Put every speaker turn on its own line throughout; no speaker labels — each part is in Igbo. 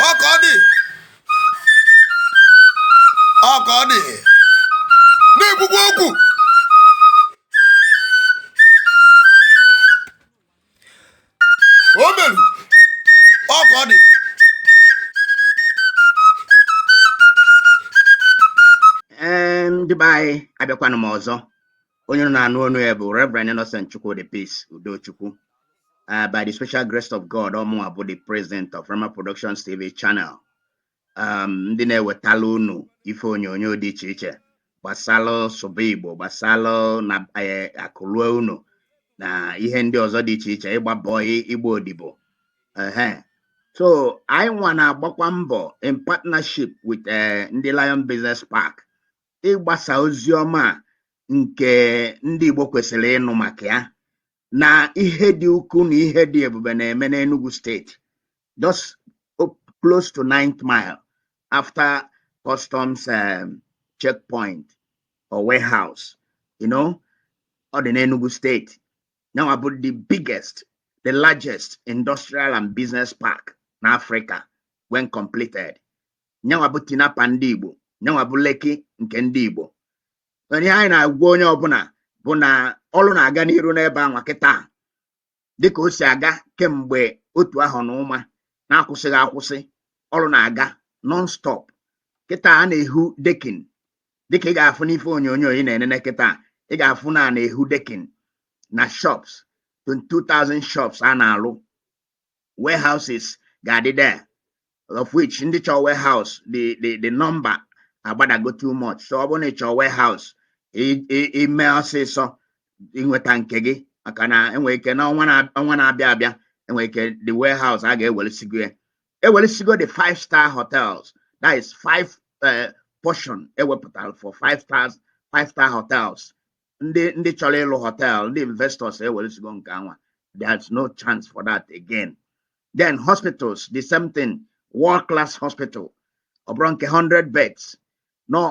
ọka ọ dị ọka ọ dị na-ekwukwa okwu o meru ọka ọ dị
Ee, ndị be anyị abịakwanụ m ọzọ onye unu na-anụ onu ya bụ Reverend Innocent Chukwudi Peace Udochukwu uh, by the special grace of God ọ mụnwa bụ the president of Rhema Productions TV channel um, ndị na-ewetala unu ife onyonyo dị iche iche gbasalụ sụba Igbo gbasalụ na eh, akụ lue ụnọ na ihe ndị ọzọ dị iche iche ịgba bọị ịgba odibo so anyị nwa na-agbakwa mbọ in partnership with eh, ndị Lion Business Park ịgbasa ozi ọma nke ndị Igbo kwesịrị ịnụ maka ya na ihe dị ukwu na ihe dị ebube na-eme n'Enugu steeti just close to ninth mile after customs um, checkpoint or warehouse you know ọ dị n'Enugu steeti nyanwa bụ the biggest the largest industrial and business park n'Africa when completed nyanwa bụ Tinapa ndị Igbo nyanwa bụ Lekki nke ndị Igbo ihe anyị na-agwa onye ọbụla bụ na ọrụ na-aga n'iru n'ebe anwa kịta dịka o si aga kemgbe otu ahọ na ụma na-akwụsịghị akwụsị ọrụ na-aga non-stop kịta a na-ehu decking dịka ị ga-afụ n'ife onyonyo ị na-enene kịta ị ga-afụ na a na-ehu decking na shops 22,000 shops a na-alụ warehouses ga-adị there of which ndị chọọ warehouse the the the number agbadago too much so ọ bụrụ na ị chọọ warehouse i- i- i mee ọsịsọ i nweta nke gị maka na enwere ike na ọnwa na- ọnwa na-abịa abịa enwere ike the warehouse a ga-ewelesigo ya ewelesigo the five star hotels that is five eh, portion e wepụtara for five stars five star hotels ndị ndị chọrọ ịlụ hotel ndị investors ewelesigo nke anwa there's no chance for that again then hospitals the same thing world class hospital ọ bụrọ nke 100 beds no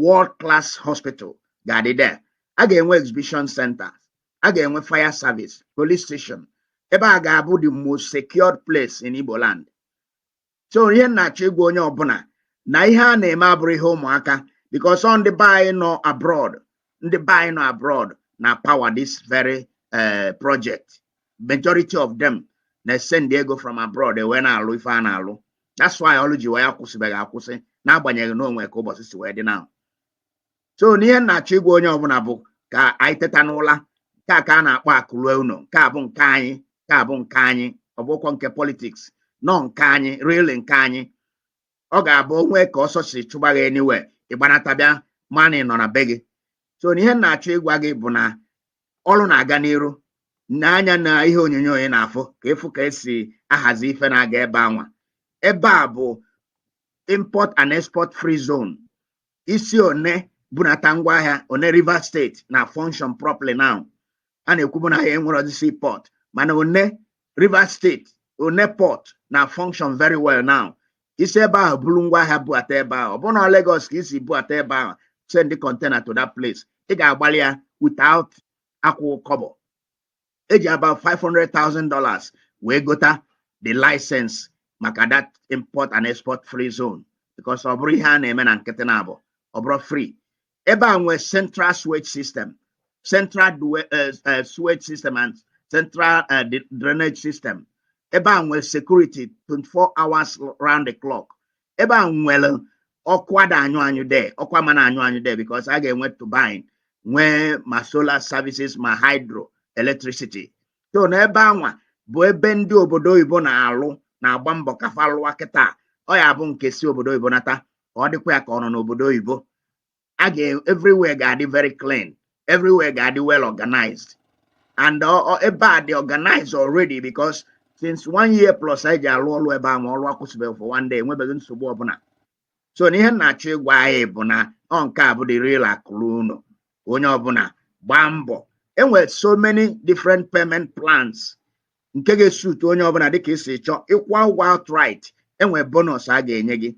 world class hospital ga-adị there a ga-enwe exhibition center a ga-enwe fire service police station ebe a ga-abụ the most secured place in Igbo land so ihe m na-achọ ịgwa onye ọbụla na ihe a na-eme abụrọ ihe ụmụaka because ọ ndị be anyị nọ abroad ndị be anyị nọ abroad na-apower this very eh, project majority of them na-esend ego from abroad ewee na-alụ ife a na-alụ that's why ọlụ ji wee akwụsịbeghị akwụsị n'agbanyeghị na o nwe ka ụbọsị si wee dị now so n'ihe m na-achọ ịgwa onye ọbụna bụ ka anyị teta n'ụla nke a ka a na-akpọ akụlue ụnọ nke a bụ nke anyị nke a bụ nke anyị ọ bụrọkwa nke politics na ọ nke anyị really nke anyị ọ ga-abụ o nwee ka ọsọ si chụba gị anywhere ị gbanata bịa mana ị nọ na be gị so n'ihe m na-achọ ịgwa gị bụ na ọrụ na-aga n'iru n'anya na ihe onyonyo ị na-afụ ka ị fụ ka e si ahazi ife na-aga ebe anwa ebe a bụ import and export free zone i si Onne bunata ngwa ahịa Onne Rivers State na-function properly now a na-ekwubu na anyị enwerọdị sea port mana Onne Rivers State Onne port na-function very well now i si ebe ahụ buru ngwa ahịa buata ebe ahụ ọ bụrụ na Lagos ka i si buata ebe ahụ send container to that place ị ga-agbalị ya without akwụ kọbọ eji about 500,000 dollars wee gota the license maka that import and export free zone because ọ bụrọ ihe a na-eme na nkịtị na abụ ọ bụrọ free ebe a nwee central sewage system central eh, eh, sewage system and central eh, drainage system ebe a nwee security 24 hours round the clock ebe a nwere ọkụ ada anyụ anyụ there ọkụ ama na-anyụ anyụ there because a ga-enwe turbine nwee ma solar services ma hydro electricity so n'ebe anwa bụ ebe ndị obodo oyibo na-alụ na-agba mbọ ka fa lụwa kịta ọ ya-abụ nke si obodo oyibo nata ka ọ dịkwa ya ka ọ nọ n'obodo oyibo a ga everywhere ga-adị very clean everywhere ga-adị well organized and ebe a dị organized already because since one year plus anyị ji alụ ọrụ ebe a ma ọrụ akwụsịbeghị for one day enwebeghị nsogbu ọbụna so na ihe m na-achọ ịgwa anyị bụ na ọ nke a bụ the real akụlue ụnọ onye ọbụna gbaa mbọ enwere so many different payment plans nke ga-esuit onye ọbụna dịka i si chọọ ị kwụa ụgwọ outright enwere bonus a ga-enye gị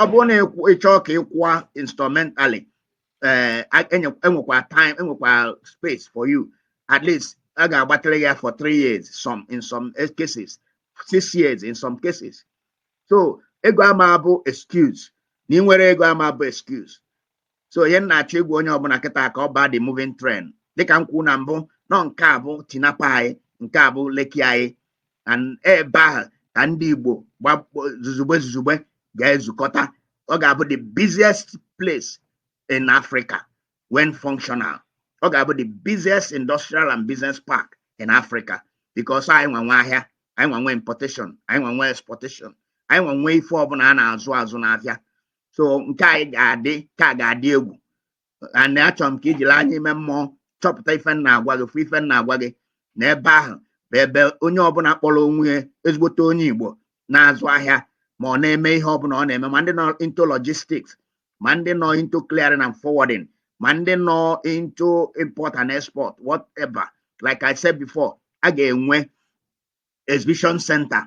ọ bụrụ na ị chọọ ka ị kwụọ installmentally eh, enwekwa time enwekwa space for you at least a ga-agbatịrị ya for three years some in some cases six years in some cases so ego ama bụ excuse na ị nwerọ ego ama bụ excuse so n'ihe m na-achọ ịgwa onye ọbụna kịta ka ọ baa the moving train dịka m kwuru na mbụ na ọ nke a bụ Tinapa anyị nke a bụ Lekki anyị and ebe ahụ ka ndị Igbo gbakpọ zuzugbe zuzugbe ga-ezukọta ọ ga-abụ the busiest place in Africa when functional ọ ga-abụ the busiest industrial and business park in Africa because anyị nwa nwe ahịa anyị nwa nwe importation anyị nwa nwe exportation anyị nwa nwe ife ọbụna a na-azụ azụ n'afịa so nke anyị ga-adị ka a ga-adị egwu and achọrọ m ka i jiri anya ime mmụọ chọpụta ife m na-agwa gị fụ ife m na-agwa gị na ebe ahụ bụ ebe onye ọbụla kpọrọ onwe ya ezigbote onye Igbo na-azụ ahịa ma ọ na-eme ihe ọbụla ọ na-eme ma ndị nọ into logistics ma ndị nọ into clearing and forwarding ma ndị nọ into import and export whatever like I said before a ga-enwe exhibition center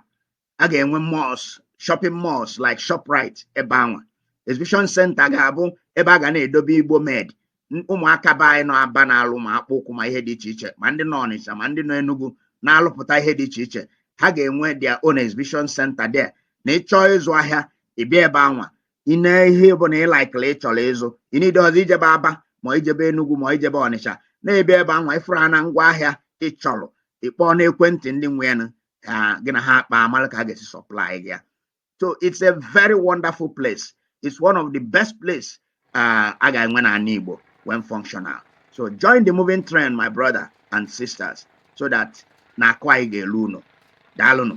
a ga-enwe malls shopping malls like Shoprite ebe anwa exhibition center ga-abụ ebe a ga na-edobe Igbo made ụmụaka be anyị nọ Aba na-alụ ma akpụ ụkwụ ma ihe dị iche iche ma ndị nọ Ọnịcha ma ndị nọ Enugu na-alụpụta ihe dị iche iche ha ga-enwe their own exhibition center there na ị chọọ ịzụ ahịa ị bịa ebe anwa i nee ihe ọbụna ị laikiri ị chọrọ ịzụ ị needirọzị ijebe Aba ma ijebe Enugu ma ijebe Ọnịcha na ebe ebe anwa ị fụrụ ha na ngwa ahịa ị chọrọ ị kpọọ n'ekwentị ndị nwe ya nụ, gị na ha akpaa amara ka ha ga-esi supply gị ya so it's a very wonderful place it's one of the best place uh, a ga-enwe n'ala igbo when functional so join the moving train my brother and sisters so that na akụ anyị ga-elu ụnọ daalụnụ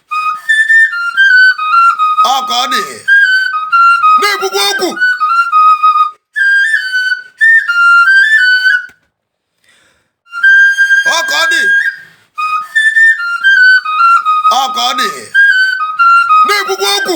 ọ ka ọ dị na-ekwukwu okwu ọ ka ọ dị ọ ka ọ dị na-ekwukwu okwu